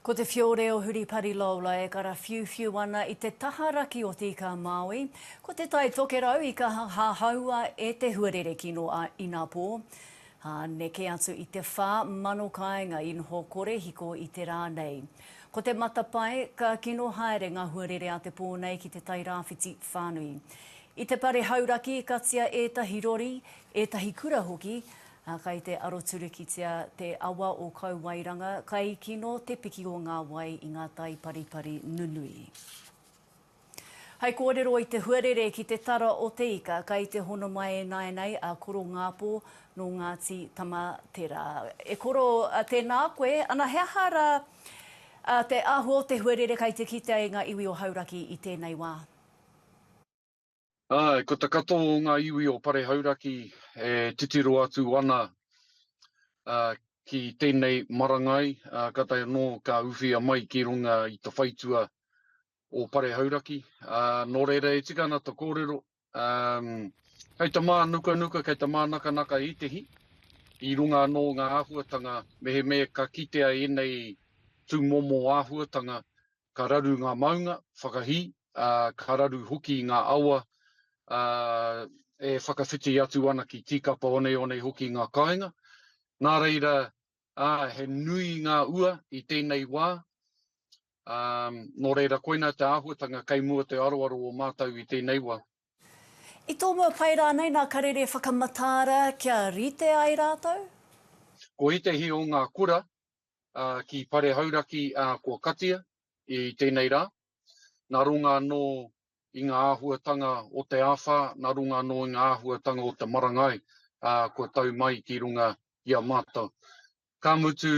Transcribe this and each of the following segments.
Ko te whiore o Huripari Lola e karawhiuwhiu ana i te taha raki o Tīkā Māui. Ko Te Tai Tokerau i kaha hahaua e te huarere kino a Inapō. Ā, neke atu i te whā mano kāinga i noho korehiko i te rā nei. Ko te matapae, ka kino haere ngā huarere a te pō nei ki te tai rāwhiti whānui. I te pare hauraki i katia ētahi rori, ētahi kura hoki, Ā, kei te aroturukitia te awa o Kauwairanga, kai kino te piki o ngā wai i ngā tai paripari nunui. Hai kōrero i te huarere ki te tara o Te Ika, kai te hono mai e nāianei a Koro Ngāpō nō Ngāti Tamaterā. E Koro, tēnā koe. Ana, he aha rā te āhua o te huarere kai te kitea e ngā iwi o Hauraki i tēnei wā? Āe, ko te katoa o ngā iwi o Pare Hauraki e titiro atu ana ki tēnei marangai, ka tae anō ka uwhia mai ki runga i te whaitua o Pare Hauraki. Nō reira e tika ana te kōrero, kei te mānukanuka, kei te mānakanaka ētehi, i runga anō ngā āhuatanga, mehemea ka kitea ēnei tūmomo āhuatanga ka raru ngā maunga whakahī, ā, ka raru hoki ngā awa, ā, e whakawhiti atu ana ki tīkapa oneone hoki ngā kāinga. Nā reira, ā, he nui ngā ua i tēnei wā, ā, nō reira koinā te āhuatanga kei mua te aroaro o mātou i tēnei wā. I tōmua pai rānei nā karere whakamataara kia rite ai rātou? Ko ētehi o ngā kura ki Pare Hauraki kua katia i tēnei rā, nā runga anō i ngā āhuatanga o te āwhā, nā runga anō i ngā āhuatanga o te marangai kua tau mai ki runga i a mātou. Ka mutu,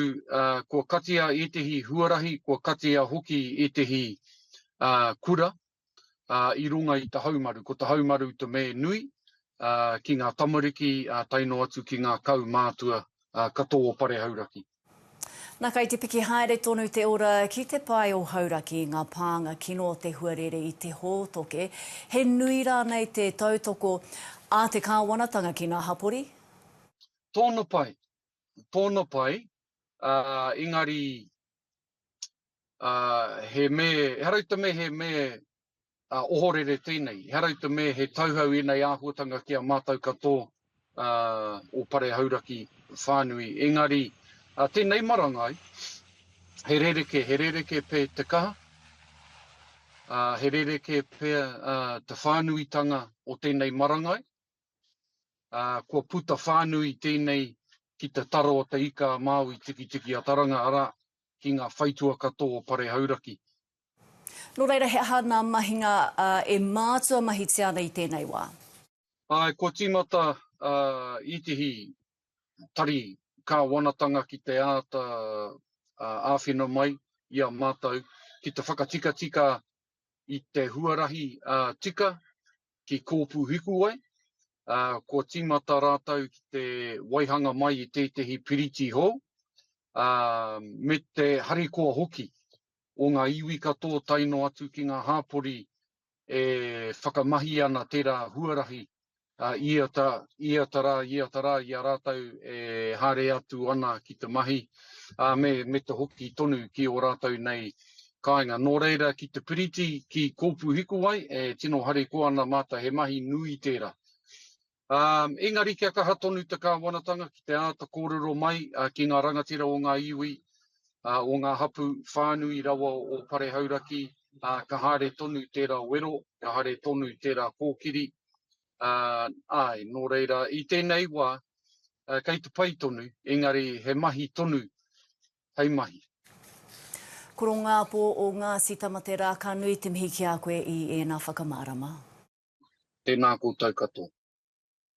kua katia ētehi huarahi, kua katia hoki ētehi kura, ā, i runga i te haumaru. Ko te haumaru te me nui, ā, ki ngā tamariki, ā, tae noa atu ki ngā kaumātua, ā, katoa o Pare Hauraki. Na, kai te piki haere tonu te ora ki te pae o Hauraki, nga pānga kino o te huarere i te hōtoke. He nui rānei te tautoko a te Kāwanatanga ki ngā hapori? Tōna pai, tōna pai, ā, engari he me, ehara i te me he me ohorere tēnei, ehara i te me he tauhau ēnei āhuatanga ki a mātou katō o Pare Hauraki whānui. Engari, tēnei marangai, he rereke, he rereke pē te kaha, he rereke pē te whānuitanga o tēnei marangai, ā, kua puta whānui tēnei ki te taro o Te Ika a Māui Tikitiki a Taranga, arā, ki ngā whaitua katoa o Pare Hauraki. Nō reira, he aha ngā mahinga e mātua mahitia ana i tēnei wā? Āe, kua tīmata ētehi tari kāwanatanga ki te āta āwhina mai i a mātou ki te whakatikatika i te huarahi tika, ki Kōpūhikuwai, ā, kua tīmata rātou ki te waihanga mai i tētehi piriti hou, ā, me te harikoa hoki o ngā iwi katoa tae noa atu ki ngā hāpori e whakamahi ana tērā huarahi, ā, i ata, i ata rā, i ata rā i a rātou e haere atu ana ki te mahi, ā, me, me te hoki tonu ki ō rātou nei Kāinga, nō reira ki te piriti ki Kōpūhikuwai e tino harikoa ana mātou he mahi nui tērā. Engari kia kaha tonu te Kāwanatanga ki te āta kōrero mai ki ngā rangatira o ngā iwi, o ngā hapū whānui rawa o Pare Hauraki, ka haere tonu tērā wero, ka haere tonu tērā kōkiri, āe, nō reira i tēnei wā kei te pai tonu, engari he mahi tonu hei mahi. Korongāpō o Ngāti Tamaterā, ka nui te mihi ki a koe i ēnā whakamārama. Tēnā koutou katoa.